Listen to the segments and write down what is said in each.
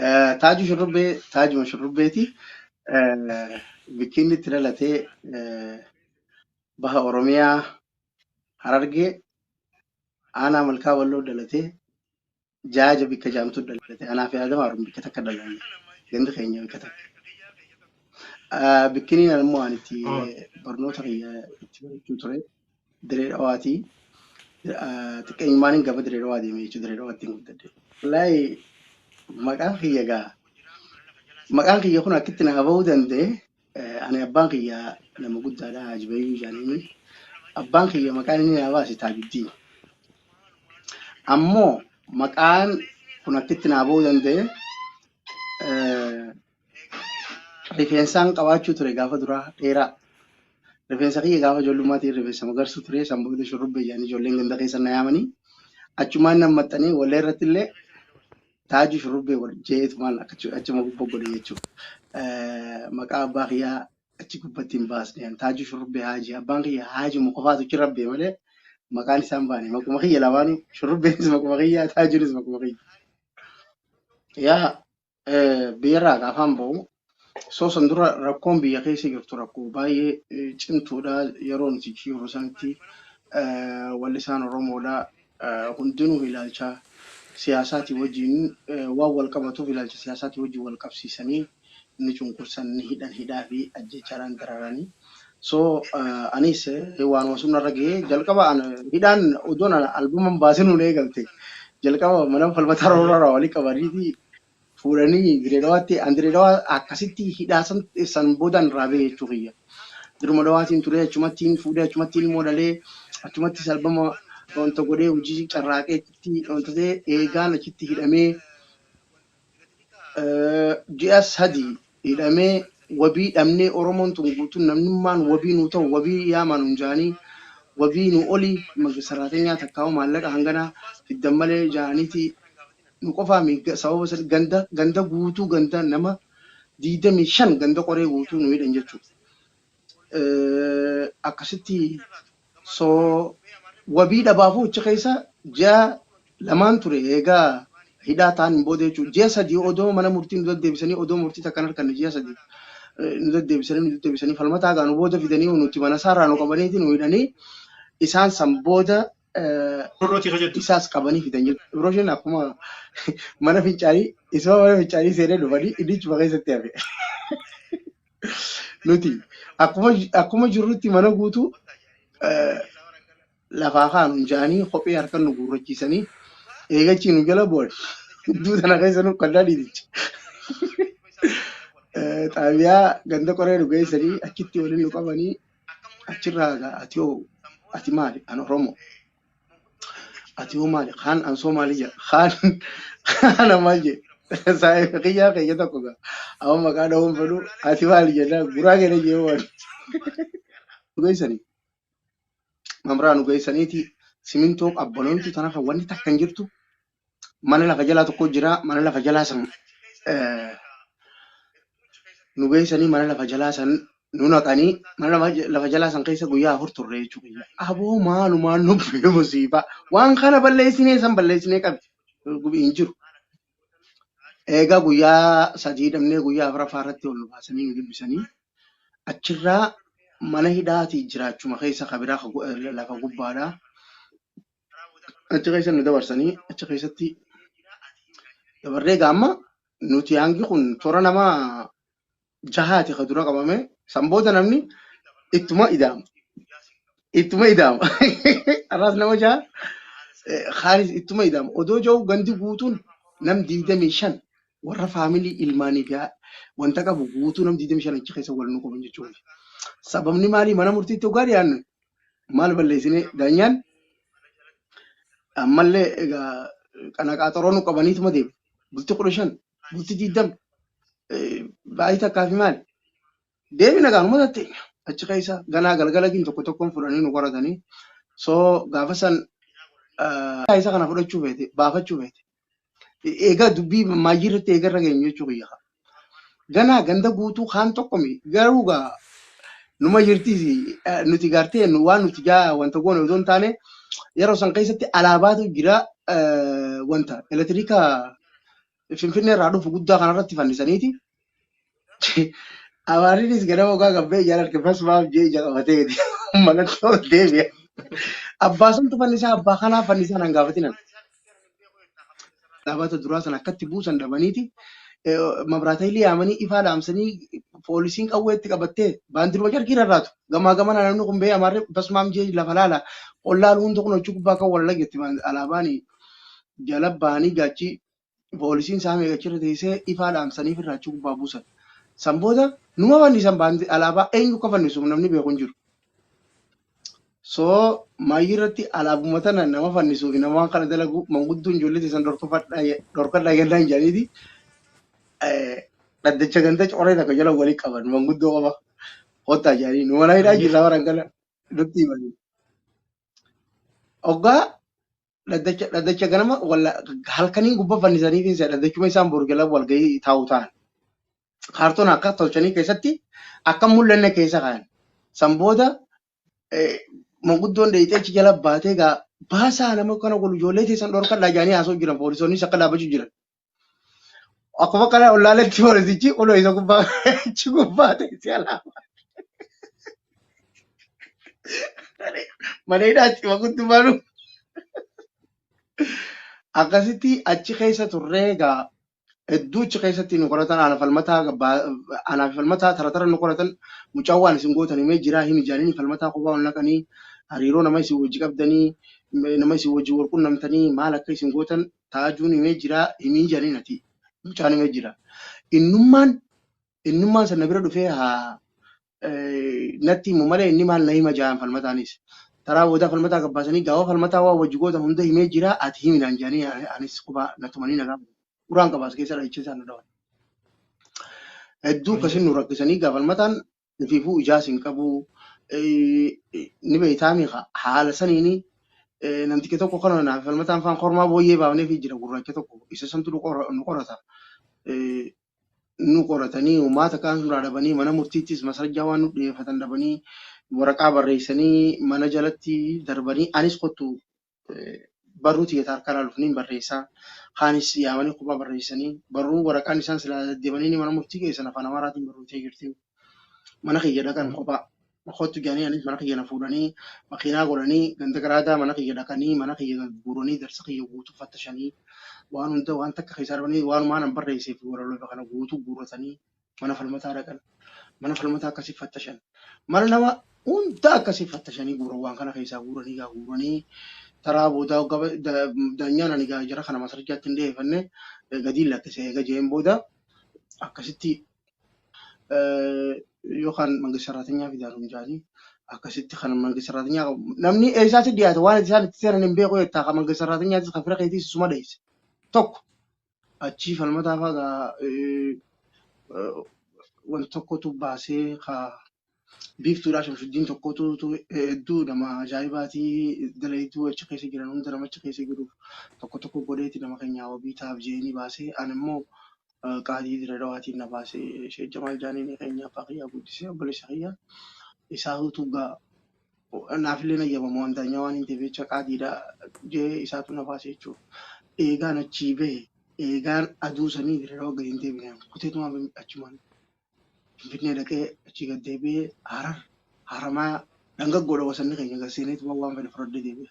Eh, Taaju shurrubbee taajuma shurrubbeeti. Eh, Bikkiinni itti dhalatee eh, baha Oromiyaa Harargee aanaa malkaa walloo dhalatee jaaja bikka jaamtu dhalate anaa fi aadama haruun bikka takka dhalanne gandi keenya bikka takka Ah, bikkiniin ammoo ani itti barnoota kiyya itti barachuu ture Diree Dhawaati. Xiqqeenyummaan gama Diree Dhawaa deemee jechuudha. Diree Dhawaatti hin guddadhe. Wallaahi maqaan kiyya gaa maqaan kiyya kun akkitti naa bahuu danda'e ani abbaan kiyya nama guddaadha Haaji Bayyuu Jaaniini. Abbaan kiyya maqaan inni naa baase Taajuddiin. Ammoo maqaan kun akkitti naa bahuu danda'e Rifeensaan qabaachuu ture gaafa duraa dheeraa. Rifeensa kiyya gaafa ijoollummaatiin rifeensa magarsuu ture san booda shurrubbee jedhanii ijoolleen ganda keessa na yaamanii achumaan nan maxxanee wallee irratti illee taajuu shurrubbee wal jeetumaan akkachu- achuma gubbaa godhe jechuudha. Eh, Maqaa abbaa kiyyaa achi gubbatti hin baasne ani taajuu shurrubbee haajii abbaan kiyya haajuma qofaatu achi rabbee malee maqaan isaa hin baane maquma kiyya lamaanuu shurrubbeenis maquma kiyya taajuunis maquma kiyya. Yaa biyyarraa gaafaan ba'u osoo san dura rakkoon biyya keessa jirtu rakkoo baay'ee eh, cimtuudha yeroo nuti achi jirru sanitti eh, wallisaan Oromoodha eh, hundinuu ilaalcha siyaasaatii wajjin eh, waan wal qabatuuf ilaalcha siyaasaatii wajjin wal qabsiisanii ni cunqursan ni hidhan hidhaa fi ajjeechaadhaan dararanii So anis waanuma sun narra ga'e jalqaba an hidhaan odoon albama hin baasin nuun eegalte jalqaba mana falmataa roorarraa walii qabaniiti fuudhanii direedawaatti an direedawaa akkasitti hidhaa san san boodaan irraa ba'e jechuu kiyya. Diruma dawaatiin turee achumattiin fuudhee achumattiin immoo dhalee achumattis albama wanta godhee hojii carraaqeetti wanta ta'e eegaan achitti hidhamee ji'a sadi hidhamee wabii dhabnee Oromoon tun guutuun namnummaan wabii nuu ta'u wabii yaamaa nuun jaanii wabii nuu oli saraatenyaa takkaa'uu maallaqa hangana fiddan malee jaaniiti nu qofaami sababa san ganda ganda guutuu ganda nama 25 ganda qoree guutuu nu hidhan jechuu akkasitti so wabii dhabaafuu achi keessa ji'a lamaan ture eegaa hidhaa ta'an hin booda jechuudha. Ji'a sadii odoo mana murtii nu deddeebisanii odoo murtii takka hin arganne ji'a sadii eh, nu deddeebisanii nu deddeebisanii falmataa gaa nu booda fidanii nuti mana isaarraa nu qabaniiti nu hidhanii isaan san booda eh, Rooti kajattu. isaas qabanii fidan jechuudha. Ibrooshin akkuma mana fincaanii isuma mana fincaanii seenee dhufanii inni ichuma keessatti hafe. Nuti akkuma akkuma jirrutti mana guutuu eh, lafaa kaanu hin jaanii kophee harkan nu guurrachiisanii eegachii nu jala bu'an. Gidduu sana keessa nu kannaa dhiiticha. Eh, Xaabiyaa ganda qoree nu geessanii achitti waliin nu qabanii achirraa egaa ati hoo ati maali an Oromoo Ati hoo maali? Kaan ansoo maali jedha? Kaan kana maal jedhe? Saayiba kiyyaa keenya tokko gaa. Amma maqaa dhahuun fedhu ati maali jennaan guraa keenya jee waan. Geessanii mamraa nu geessaniiti simintoo qabbanoomtu tana kan wanni takka hin jirtu mana lafa jalaa tokko jira mana lafa jalaa san eh, nu geessanii mana lafa jalaa san nu naqanii mana lafa ja- lafa jalaa san keessa guyyaa afur turre jechuu kiyya aboo maalumaan nu bu'e musiibaa waan kana balleessinee san balleessinee qabi gubi hin jiru eegaa guyyaa sadii dhabnee guyyaa afuraffaa irratti ol nu baasanii nu dubbisanii achirraa mana hidhaatii jiraachuma keessa kabiraa lafa gubbaadhaa achi keessa nu dabarsanii achi keessatti dabarree egaa amma nuti hangi kun toora nama jahaati ka dura qabame san booda namni ittuma idaama ittuma idaama arraas nama jaha eh, kaanis ittuma idaama odoo jau gandi guutuun nam digdamii shan warra faamilii ilmaanii fi haa- wanta qabu guutuu nam digdamii shan achi keessa wal nu qaban jechuudha sababni maalii mana murtiitti ogaa dhiyaannu maal balleessine daanyaan ammallee egaa kana qaaxoroo nu qabaniituma deemu bulti kudha shan bulti diddam baay'ee takkaa fi maali deemina gaanuma tatteenya achi keessa ganaa galgalatiin tokko tokkoon fudhanii nu qoratanii soo gaafa san isa kana fudhachuu feete baafachuu feete Egaa dubbii maayyii irratti eegarra geenyu jechuu kiyya. Ganaa ganda guutuu kaan tokko mi garuu gaa numa jirti eh, nuti gaartee nu- waan nuti jaa wanta goone osoo hin taane yeroo san keessatti alaabaatu jira eh, wanta elektiriika finfinnee irraa dhufu guddaa kanarratti fannisaniiti Amaarriinis ganama ogaa gabbee ijaan arge fasumaaf jee ija qabateeti. Manatti ol deebi'a. Abbaa santu fannisaa abbaa kanaa fannisaa naan gaafatinan. Dhaabata duraa sana akkatti buusan dhabaniiti. Mabraataayilii yaamanii ifaa dhaamsanii poolisiin qawwee itti qabattee baandiruma carqii rarraatu. Gamaa gamana namni kun ba'ee amaarri fasumaaf jee lafa laala. Ollaa luunta kun hojii gubbaa kan wal lagetti alaabaanii jala bahanii gaachii poolisiin saame eegachirra teessee ifaa dhaamsaniif irraa achi gubbaa buusan. San booda numa fannisan baanti alaabaa eenyu akka fannisu namni beeku hin jiru. So maayyii irratti alaabuma tana nama fannisuu fi nama waan kana dalagu manguddoon ijoollee teessan dhorkadhaa gannaan jedhaniiti dhaddacha ganda coree takka jala walii qaban manguddoo qofa kottaa jedhanii nu mana hidhaa jirra waran kana nutti himanii. Oggaa dhaddacha dhaddacha ganama walla halkanii gubba fannisanii fi isa dhaddachuma isaan boru jala walgahii taa'u ta'an. Kaartoon akka tolchanii keessatti akka hin mul'anne keessa ka'an. San booda eh, manguddoon dheeyxee achi jala baatee gaa baasaa nama kana kun ijoollee teessan dhorkadhaa jedhanii haasa'u jiran poolisoonnis akka dhaabbachuu jiran. Akkuma kana ollaaletti poolisichi kunoo isa gubbaa achi gubbaa teessee alaa mana hidhaatti ima guddummaanu akkasitti achi keessa turree egaa hedduu achi keessatti nu qoratan ana falmataa gabbaa- anaa fi falmataa tara tara nu qoratan mucaa waan isin gootan himee jiraa himi jaanini falmataa kophaa ol naqanii hariiroo nama isin wajji qabdanii nama isin wajji wal qunnamtanii maal akka isin gootan taajuun himee jiraa himii janiin atii mucaan himee jira innummaan innummaan san na bira dhufee haa natti himu malee inni maal na hima jaan falmataanis taraa boodaa falmataa gabbaasanii gaafa falmataa waa wajji gootan hunda himee jira ati himi naan jaanii anis qubaa na tumanii nagaa uraan qabaas keessa dhahicha isaan na dhawan hedduu akkasin nu rakkisanii gaafalmataan Nufiifuu ijaas hin qabu. Ni beektaami haala saniini namticha tokko kana naaf falmataan faan kormaa booyyee baafnee fi jira gurraacha tokko isa santu nu qora- nu qorata. Nu qoratanii uummata kaan suuraa dhabanii mana murtiittis masarajjaa waan nu dhiyeeffatan dhabanii waraqaa barreessanii mana jalatti darbanii anis kottu barruu tiyya ta harkaa laaluuf niin barreessa. Kaanis yaamanii kophaa barreessanii barruu waraqaan isaan silaa deddeebanini mana murtii geessan afaan Amaaraatiin barrootee jirti. Mana kiyya dhaqan kophaa. Kottu jedhanii anis mana kiyya na fuudhanii makiinaa godhanii ganda garaagaa mana kiyya dhaqanii mana kiyya gagguuranii darsa kiyya guutuu fattashanii waan hunda waan takka keessaa dhabanii waanumaan an barreessee fi walaloo kana guutuu guurratanii mana falmataa dhaqan mana falmataa akkasii fattashan mana nama hunda akkasii fattashanii guuran waan kana keessaa guuranii gaa guuranii taraa boodaa gaba da- daanyaan ani gaa jara kana masarjaatti hin dhiyeeffanne eh, gadiin lakkise eega jeen booda akkasitti eh, yookaan mangi saraatinyaa fidaan hundaanii akkasitti kan mangi saraatinyaa qabu namni eessaatti dhiyaate waan isaan itti seenan hin beeku jettaa kan mangi saraatinyaattis kan fira keetiis isuma dheesse tokko achii falmataa faa gaa eh, eh, wanti tokkotu baasee kaa biiftuudhaa shamsuddiin tokkotu tu- eh, hedduu nama ajaa'ibaatii dalayduu achi keessa jiran hunda nama achi keessa jiruuf tokko tokko godheeti nama keenyaa wabii taaf jeeni baasee an immoo eh, qaadii dira dhawaatiin na baasee sheejja maal jaaniin keenya abbaa kiyyaa guddisee obboleessa kiyyaa isaa utuu gaa naaf illee nayyamamu waan taanyaa waan hin ta'eef jecha qaadiidha jee isaatu na baase jechuudha. Eegaan achii bahe eegaan aduu sanii dirroo gadi hin deebine kuteetumaan Fin- achumaan finfinnee dhaqee achii gad deebi'ee harar haramaa dhangaggoodha wasanni keenya gad seeneetuma waan fedhe fudhadhee deebi'e.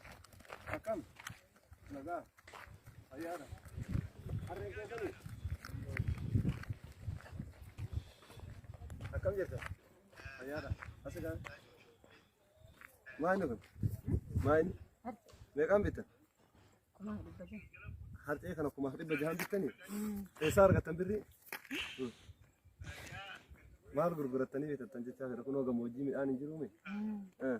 Akkam? Nagaa? Fayyaadha? Harreen kee kuni? Akkam jirta? Fayyaadha? Asi gaa? Maani kun? Maani? Meeqaan bitta? Kumaa dhibba jaha. Harcee kana kumaaf dhibba jahaan bittanii? Eessaa argattan birrii? Maal gurgurattanii bitattan jechaa jira kunoo gammoojjii midhaan hin jiruumi? Eh.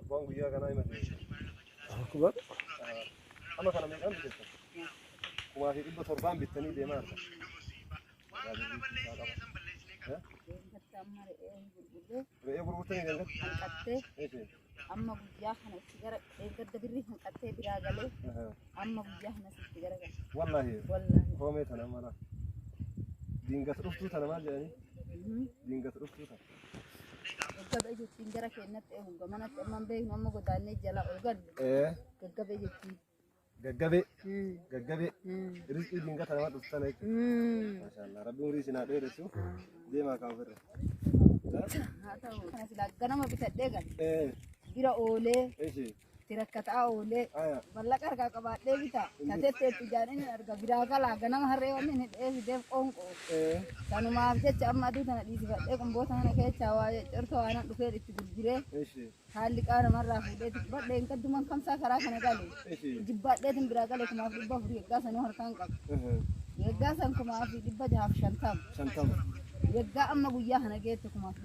Abbaan guyyaa kanaa hima ta'e. Akbar. Amma kana meeqaan bitattan? Kumaa fi dhibba torbaan bittanii deemaa jirta. Re'ee gurgurtanii kan gatte? hanqattee Eeshi. amma guyyaa kana itti gara eeggadda birrii hanqattee biraa galee amma guyyaa kanas itti gara galee Wallaahi. wallaahi Koomee tana mala. Diingata dhuftuu tana maal jedhanii? Diingata dhuftuu tana. Gaggabe jechuun gara keenyatti eeguudha. Manatti amma hin beeknu amma godaannee jala ol galu. Ee, Gaggabe jechuun. gaggabee gaggabee rizqii dinqata nama dhuftan jechuudha. Maashaallah rabbiin umrii isin haa dheeressu deemaa kaa ofirra. Haa ta'u. Kana silaa ganama bitadhee gale. Ee, Bira oolee eshi itti rakkataa oolee mallaqa harkaa qabaadhee bitaa tateetti itti jaadheen hin arga biraa galaa ganama harree wanni hin hidhee fideef qoonqoo kanumaaf jecha amma aduu tana dhiisifadhee qumboota kana keessaa waa jeccorsa waan an dhufeen itti gurguree haalli qaa namarraa fuudhee tuqbadhee hin kadduman kamsaa karaa kana gale jibbaadheetin biraa gale kumaaf dhibba afurii eeggaa sanuu harkaan qaba eeggaa san kumaa fi dhibba jahaaf shantama eeggaa amma guyyaa kana geette kumaaf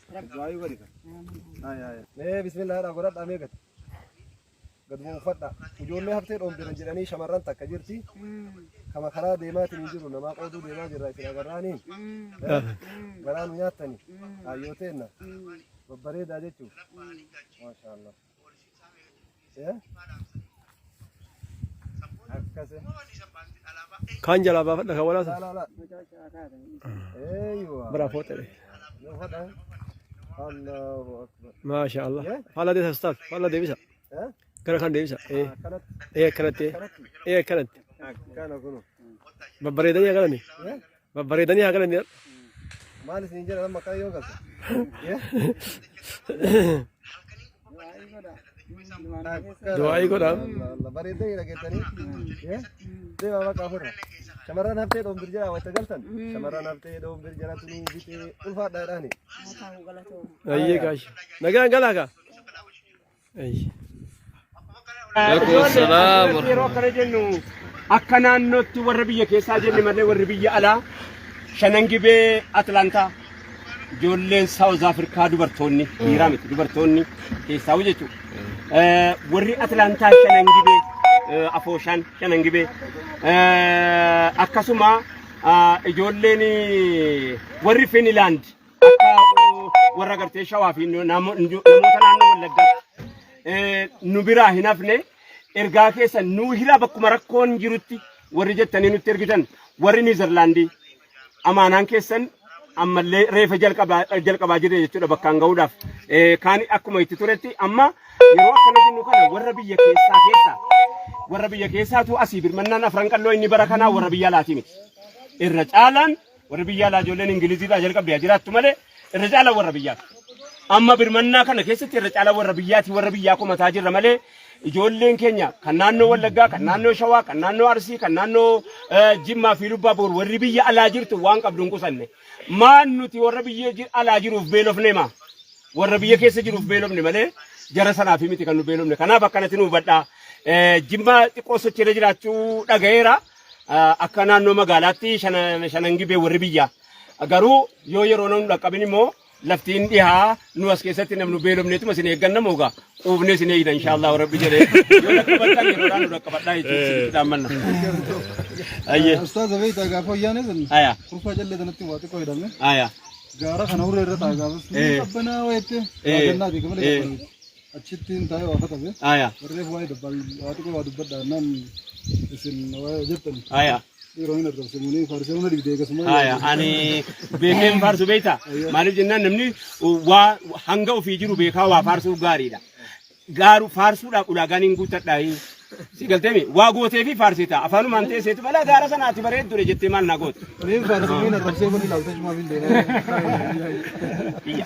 Du'aayu godhi kan. Haya haya. Mee bismillah jedhaa godhadhaa mee gad. Gad bu'u uffadhaa. Ijoollee haftee dhoombiran jedhanii shamarran takka jirti. Kama karaa deemaatiin hin jiru namaa qooduu deemaa jirra isin agarraanii. Garaa nu nyaattani. Hayyoo teenna. Babbareedaa jechuuf. Maashaallah. Kaan jalaa baafadha kan walaasa. Biraa fooxee. Maasha Allah. Faallaa deebisa ustaaz. Faallaa deebisa. Gara kan deebisa. Ee. Ee akkanatti. Ee akkanatti. Babbareedanii akkanatti. Babbareedanii haa galanii har'a. Maal isin jedhan amma akkana yoo galte? Du'aa'ii godhaa. Bareedanii dhageettanii. Deemaa maqaa ofirra. Shamarran haftee dhoomdir jedhaa wayita galtan. Shamarran haftee dhoomdir jedhaa tunuu bitee ulfaadhaa jedhaani. Ayyee gaashi. Nagaan galaa kaa. Yeroo kana jennu akka naannootti warra biyya keessaa jenne malee warri biyya alaa shanan gibee Atlaantaa ijoolleen Saawuz Afrikaa dubartoonni dhiiraa miti dubartoonni keessaa jechuudha. Warri Atlaantaa shanan gibee afooshaan shanan gibee akkasuma ijoolleen warri Finilaand akka warra gartee shawaa fi namoota naannoo wallaggaatti nu biraa hin hafne ergaa keessa nu hira bakkuma rakkoon jirutti warri jettanii nutti ergitan warri Niizerlaandii amaanaan keessan ammallee reefa jalqabaa jirre jechuudha bakkaan gahuudhaaf. Kaan akkuma itti turetti amma yeroo akkana jennu kana warra biyya keessaa keessa warra biyya keessaatu asii birmannaan afran qalloo inni bara kanaa warra biyya alaatii miti. Irra caalaan Warri biyya alaa ijoolleen Ingilizii irraa jalqabdee jiraattu malee irra caalaa warra biyyaati. Amma birmannaa kana keessatti irra caalaa warra biyyaati warra biyyaa komataa jirra malee ijoolleen keenya kan naannoo Wallaggaa, kan naannoo Shawaa, kan naannoo Arsii, kan naannoo eh, Jimmaa fi Lubbaa Boor warri biyya alaa jirtu waan qabdu hin qusanne. Maan nuti warra biyya ji- alaa jiruuf beelofne maa? warra biyya keessa jiruuf beelofne malee jara sanaaf miti kan nu beelofne. Kanaaf akkanatti nu hubadhaa. Eh, Jimmaa xiqqoo sochiirra jiraachuu dhagayeera. Akka naannoo magaalaatti shanan gibee warri biyyaa garuu yoo yeroo nu dhaqqabin immoo lafti hin dhihaa nu as keessatti namnu beelofneetuma isin eegganna moogaa quufnee isin eegna inshaallah rabbi jedhee yoo dhaqqabattan yeroodhaan nu dhaqqabadhaa jechuun isinitti dhaammanna. Ayyee. Ustaaza beektaa gaafa wayyaanee sun Aya. kurfaa callee sanatti waa xiqqoo hidhame Aya. gaara kana hurree irra taa'e gaafa sun Eh. qabbanaa wayitti Eh. waadannaa beekamee Eh. qabbanaa. achittiin taa'ee waa katabe Aya. warreef waa'ee dabbal waa xiqqoo waa dubbadha naan isin waa jettan Aya. dhiiroo hin argamsimunii faarsee hunda digdee akkasuma Aya. Ani beekeen faarsu beekta. Maaliif jennaan namni waa hanga ofii jiru beekaa waa faarsuuf gaariidha. Gaaru faarsuudhaaf ulaagaan hin guuttadha. Si galteemi waa gootee fi faarsita afaanumaan teesseetu balaa gaara sanaati bareeddudha jettee maal naa goote. Mee faarsee hin argamsee kun ilaaltee cumaa fi hin deemaa. Biyya.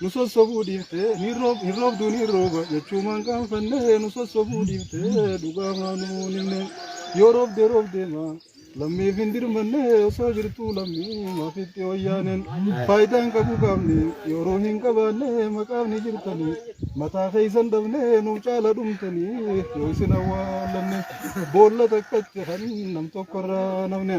nu sossobuu dhiifte ni roob hin roobdu ni rooba jechuumaan qaanfanne nu sossobuu dhiifte dhugaa maanuu nimne yoo roobde roobde maa lammiif hin dirmanne osoo jirtuu lammii maafitti wayyaaneen faayidaan qabu qaamni yeroo hin qabaanne maqaafni jirtanii mataa keessan dhabne nuuf caala dhumtanii yoo isin awwaalanne boolla takkatti kan nam tokkorraa namne.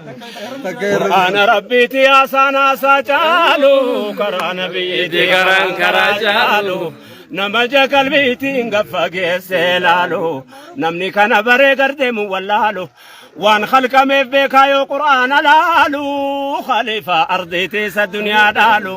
Qur'aana rabbiiti haasaan haasaa caalu karaa nabiyyiiti karaan karaa caalu nama ija qalbiitiin gaffa geessee laalu namni kana baree gardeemu wallaalu waan halkameef beekaa yoo qur'aana laalu khaliifaa ardiitiisa duniyaa dhaalu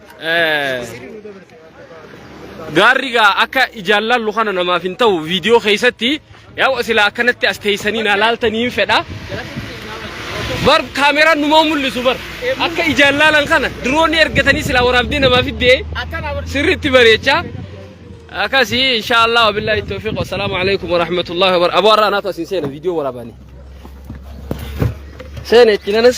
Gaarri gaa akka ijaan laallu kana namaaf hin ta'u viidiyoo keessatti yaa silaa akkanatti as teessanii naa laaltanii hin fedha. Bar kaameraan numaa mul'isu bar akka ijaan laalan kana diroonni ergatanii silaa waraabdee namaaf iddee sirriitti bareechaa. Akkasii inshaallah wabillahi tawfiq wasalaamu alaikum warahmatullahi wabarakatuh. Aboo har'aa naatu asiin seena viidiyoo waraabanii. Seena itti nanas.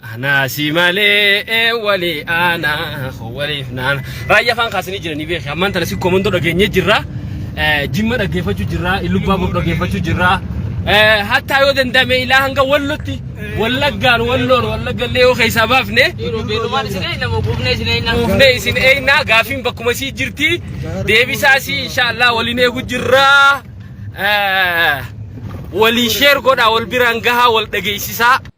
Anaa si malee wali aanaa waliif naana. Raayyaa faan kaasanii jiranii beeki. Ammaan tana si komandoo dhageenye jirra. Jimma dhaggeeffachuu jirra. Illubbaa bor dhaggeeffachuu jirra. Hattaa yoo danda'ame ilaa hanga wallotti wallaggaan walloon wallaggallee yoo keessaa baafne quufnee isin eegnaa gaafiin bakkuma sii jirti. Deebisaa sii inshaallah waliin eegu jirra. Walii sheer godhaa wal biraan gahaa wal dhageessisaa.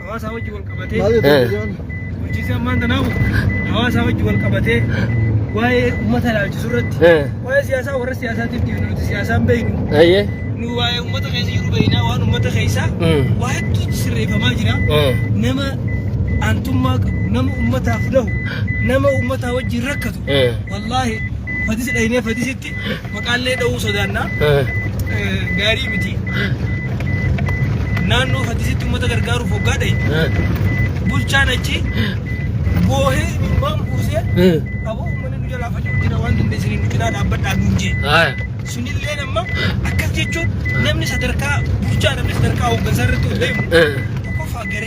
hawaasaa wajji wal qabatee bulchiinsi ammaan tanaamu hawaasaa wajji wal qabatee waa'ee uummata ilaalchisu irratti waa'ee siyaasaa warra siyaasaatiif deemnu nuti siyaasaan beeknu nu waa'ee uummata keessa jiru beeknaa waan uummata keessaa waa hedduutu sirreeffamaa jira nama aantummaa qabu nama uummataaf dhahu nama uummataa wajjin rakkatu wallaahi fadisi dhahinee fadisi irratti maqaallee dha'uu sodaanna. Gaarii miti. Naannoo Faddisitti uummata gargaaruuf hoggaa ta'e bulchaan achi boohee imimmaan buusee aboo uummanni nu jalaa faca'u jira waan dandeessanii nu cinaa dhaabbadhaa nuun jee. Sunillee amma akkas jechuun namni sadarkaa bulchaa namni sadarkaa hooggansaa irratti ol deemu tokkoffaa garee.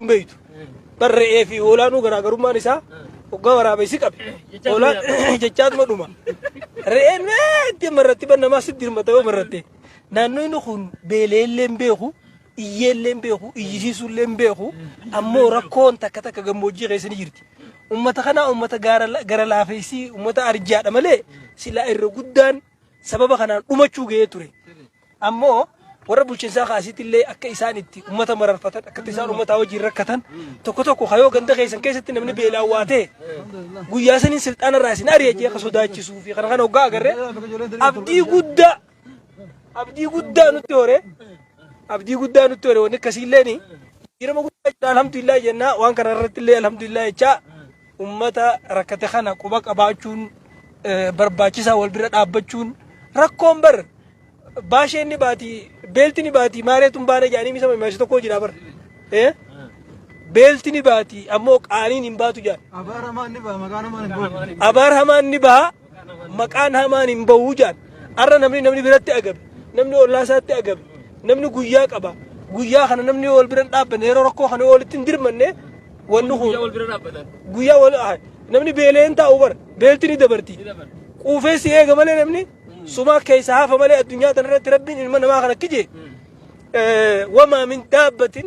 hin beektu. Bar re'ee fi hoolaanuu garaagarummaan isaa hoggaa waraabessi qabe. Hoolaan jechaatuma dhuma. Re'een meetti amma irratti ban namaa sitti hirmata yoo marratte. Naannoo inni kun beeleellee hin beeku, iyyeellee hin beeku, iyyisiisuullee hin beeku. Ammoo rakkoon takka takka gammoojjii keessa ni jirti. Uummata kanaa uummata gaara- gara laafeessii uummata arjaadha malee silaa irra guddaan sababa kanaan dhumachuu ga'ee ture. Ammoo warra bulchinsaa kaasitti illee akka isaan itti uummata mararfatan akkatti isaan uummataa wajjin rakkatan tokko tokko kayoo ganda keessan keessatti namni beelaa waa ta'e guyyaa saniin silxaana irraa isin ari'achee akka sodaachisuu fi kana kana hoggaa agarree abdii guddaa abdii guddaa nutti hore abdii guddaa nutti hore wanni akkasii illee ni jirama guddaa jira alhamdulillah jennaa waan kana irratti illee alhamdulillah jechaa Ummata rakkate kana quba qabaachuun barbaachisaa wal bira dhaabbachuun rakkoon bar baasheen ni baati beelti ni baati maareetuun baana jedhanii misama imaasi tokko jira bar. Beelti ni baati ammoo qaaniin hin baatu jedhan. Abaar hamaan ni baha maqaa namaan hin bahu. Abaar hamaan ni baha maqaan hamaan hin bahuu jaan arra namni namni biratti agabe namni ollaa isaatti agabe namni guyyaa qaba guyyaa kana namni wal bira hin dhaabbanne yeroo rakkoo kana walitti hin dirmanne wanni kun wal bira dhaabbatan. guyyaa wal ah, namni beelee hin taa'u bara beelti ni dabarti quufee si eega malee namni sumaa keessa hafa malee addunyaa tanarratti rabbiin ilma namaa kana kije wamaa min daabbatin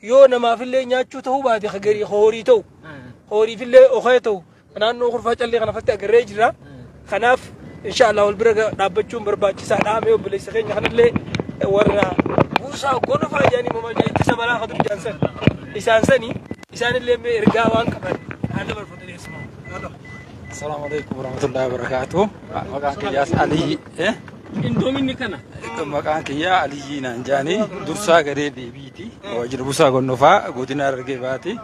yoo namaafillee nyaachuu ta'uu baate ka garii ka horii ta'u ka horiifillee okee ta'u ka naannoo kurfaa callee kana fatti agarree jira kanaaf inshaallah wal bira ga- dhaabbachuun barbaachisaadha mee obboleessa keenya kanallee warra buusaa gonofaa jedhanii mamaa jedhan ittisa balaa ka dur jaansan isaan sani isaanillee mee ergaa waan qaban haa dabarfatu deessimaa haa qabu. Assalamu alaikum warahmatullahi wabarakatuh. Maqaan kiyyaas Alii Eh? Qindoominni kana. Maqaan kiyyaa Aliyyii naan jaanii dursaa garee deebiiti. Waajjira busaa gonnofaa godina argee baati.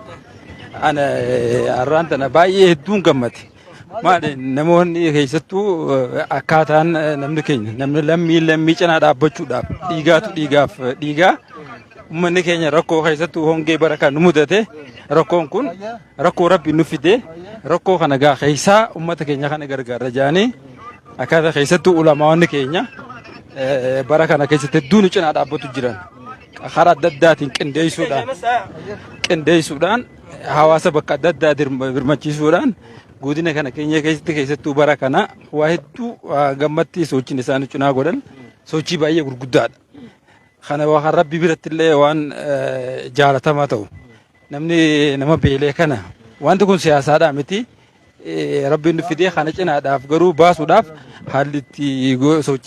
Ana eh, har'aan tana baay'ee hedduun gammade. Maali namoonni keessattuu eh, akkaataan eh, namni keenya namni lammii lammii cinaa dhaabbachuudhaaf dhiigaatu dhiigaaf eh, dhiigaa. Uummanni keenya rakkoo keessattuu hongee bara kan nu mudate rakkoon kun Rakkoo rabbi nu fide rakkoo kana gaa keessaa uummata keenya kana gargaarra jedhanii akkaataa keessattuu ulamaawwan keenya bara kana keessatti hedduu nu cinaa dhaabbatu jiran karaa adda addaatiin qindeessuudhaan qindeessuudhaan hawaasa bakka adda addaa birmachiisuudhaan godina kana keenya keessatti keessattuu bara kana waa hedduu gammatti sochiin isaan cinaa godhan sochii baay'ee gurguddaadha. Kana waan rabbi biratti illee waan jaalatamaa ta'u. Namni nama beelee kana wanti kun siyaasaadhaa miti. Rabbiin fidee kana cinaadhaaf garuu baasuudhaaf haalli itti sochii